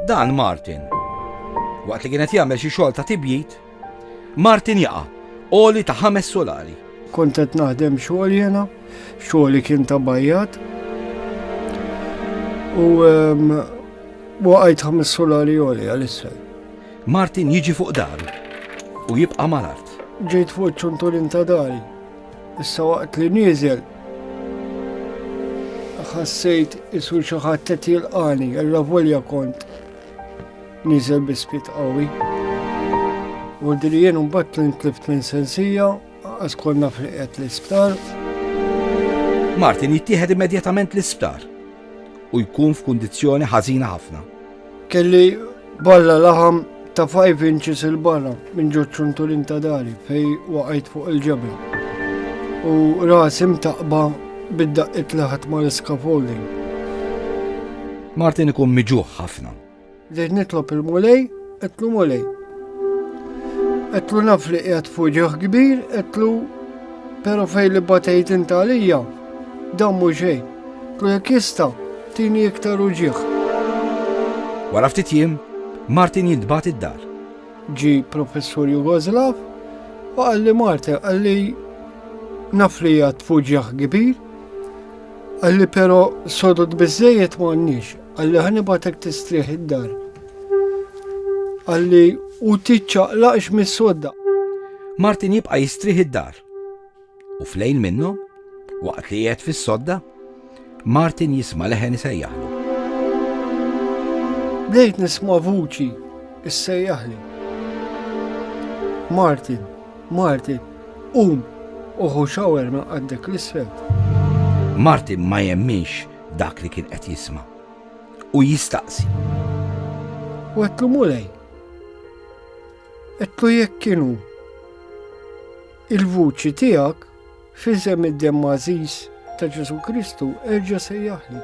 Dan Martin. Waqt li kienet jagħmel xi xogħol ta' tibjit, Martin jaqa' oli ta' ħames solari. Kont qed naħdem xogħol jena, xogħol kien ta' bajjat. U ehm, waqajt ħames solari oli għalissa. Martin jiġi fuq daru u jibqa' mal-art. Ġejt fuq ċuntulin ta' dari. Issa waqt li nieżel ħassejt isu xi ħadd qed jilqani, alla volja kont nieżel bi spit qawwi. U diri jien mbagħad li ntlift minn sensija, qas konna friqet l-isptar. Martin jittieħed immedjatament l-isptar u jkun f'kundizzjoni ħażina ħafna. Kelli balla laħam ta' 5 inches il-barra minn ġod ċuntulin ta' dari fej waqajt fuq il-ġebel. U rasi mtaqba bid-daqqit li ħadd ma' l-scaffolding. Martin ikun miġuħ ħafna. Dejt nitlob il-mulej, etlu mulej. Etlu naf li qiegħed fuġiħ kbir, etlu pero fej li batejt intalija, dammu xejn. Lu jekk jista, tini iktar uġieħ. Wara ftit jiem, Martin jintbat id-dar. Ġi professur Jugoslav u għalli Martin għalli naf li jgħat fuġieħ kbir. Għalli pero sodod bizzejiet ma għannix, għalli ħanibatek tistrieħ id-dar. Għalli u tiċċaqlaqx mis-sodda. Martin jibqa jistrieħ id-dar. U flejn minnu, waqt li qiegħed fis-sodda, Martin jisma' leħen isejjaħlu. Bdejt nisma' vuċi issejjaħli. Martin, Martin, um, uħu xawer ma għaddek l-isfel. Martin ma jemminx dak li kien qed jisma' u jistaqsi. U għetlu mulej, għetlu jekk kienu. Il-vuċi tiegħek f'isem id-demm għażiż ta' Ġesu Kristu erġa' sejjaħli.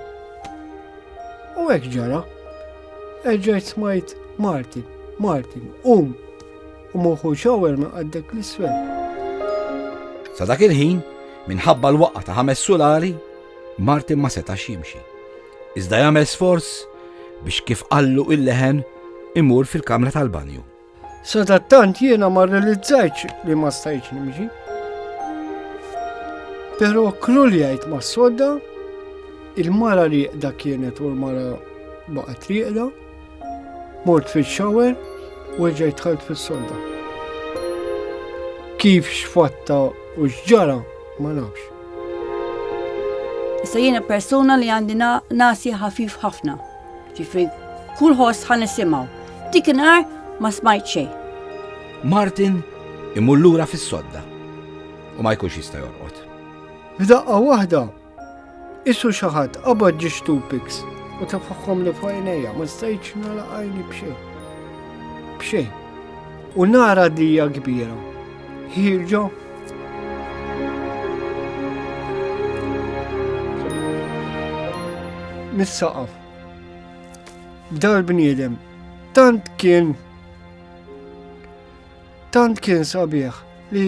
U hekk ġara, erġa' smajt Martin, Martin, um, u moħu xawer ma' għaddek l-isfel. Sa dak il-ħin, minħabba l-waqqa ta' ħames sulari, Martin ma setax jimxi. Iżda jagħmel sforz biex kif qallu il-leħen imur fil-kamra tal-banju. Sadattant jiena ma realizzajċ li ma stajċ nimġi. Pero kruljajt ma sodda, il-mara li da kienet u l-mara baqgħet triqda, mort fil xower u ġejt ħalt fis-sodda. Kif xfatta u xġara ma nafx. Issa jiena persuna li għandi nasi ħafif ħafna. Ġifri, kull ħoss ħan nisimaw. Dik nar ma smajt xej. Martin imur lura fis-sodda u ma jkunx jista' jorqod. F'daqqa waħda, isu xi ħadd qabad ġi stupiks u tafħħom li fuq għajnejja ma stajtx nara għajni b'xejn. B'xejn. U nara dija kbira Here you go. mis-saqaf. Dal bniedem tant kien tant kien sabiħ li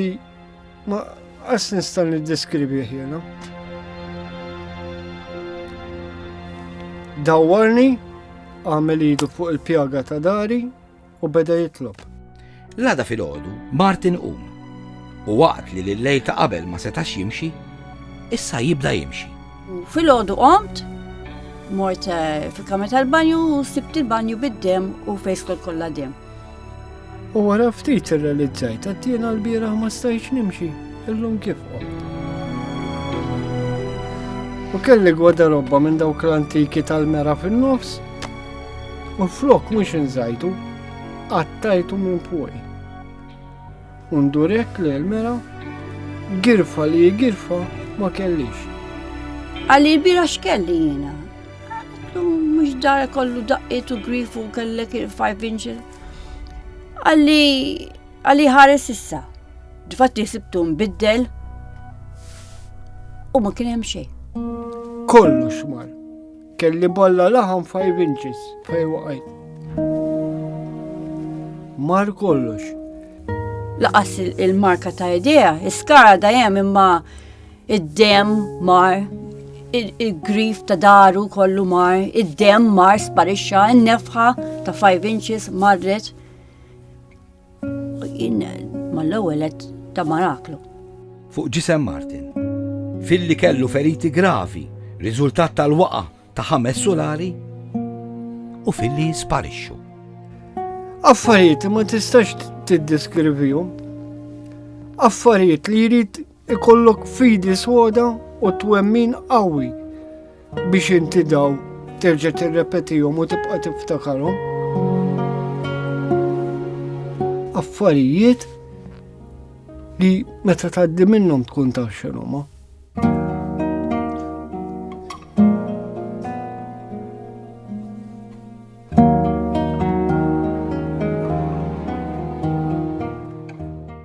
ma qas nista' niddeskribih jiena. Dawwarni għamel idu fuq il-pjaga ta' dari u beda jitlob. L-għada filgħodu Martin qum u waqt li l-lejl ta' qabel ma setax jimxi, issa jibda jimxi. Filgħodu qomt, mort eh, fil-kamra tal-banju u sibt il-banju bid-dem u fejskol kollha dem. U wara ftit irrealizzajt għattina l-bieraħ ma stajx nimxi, illum kif qomt. U kelli gwada robba minn dawk l-antiki tal-mera fin-nofs U flok mhux inżajtu, qattajtu minn fuqi. U ndurek li l-mera girfa li girfa ma kellix. Għalli l-bira x'kelli jiena. Mhux dar kollu daqqiet u grifu kellek il-five inches. Għalli għalli ħares issa. Dfatti sibtu mbiddel u ma kien hemm xejn. Kollox mar. Kelli bolla laħam 5 inches fej waqajt. Mar kollox. Laqas il-marka ta' idea, iskara dajem imma id-dem mar, il-grif ta' daru kollu mar, id-dem mar sparixxa, n-nefħa ta' 5 inches marret. Jien mal-ewwel qed ta' maraklu. Fuq ġisem Martin. Filli kellu feriti gravi, riżultat tal-waqa ta' ħames sulari u filli sparixxu. Affarijiet ma tistax tiddeskrivihom. Affarijiet li jrid Ikollok fidi soda u twemmin qawwi biex inti daw terġa' tirrepetihom u tibqa' tiftakarhom. Affarijiet li meta tgħaddi minnhom tkun taf x'inhuma.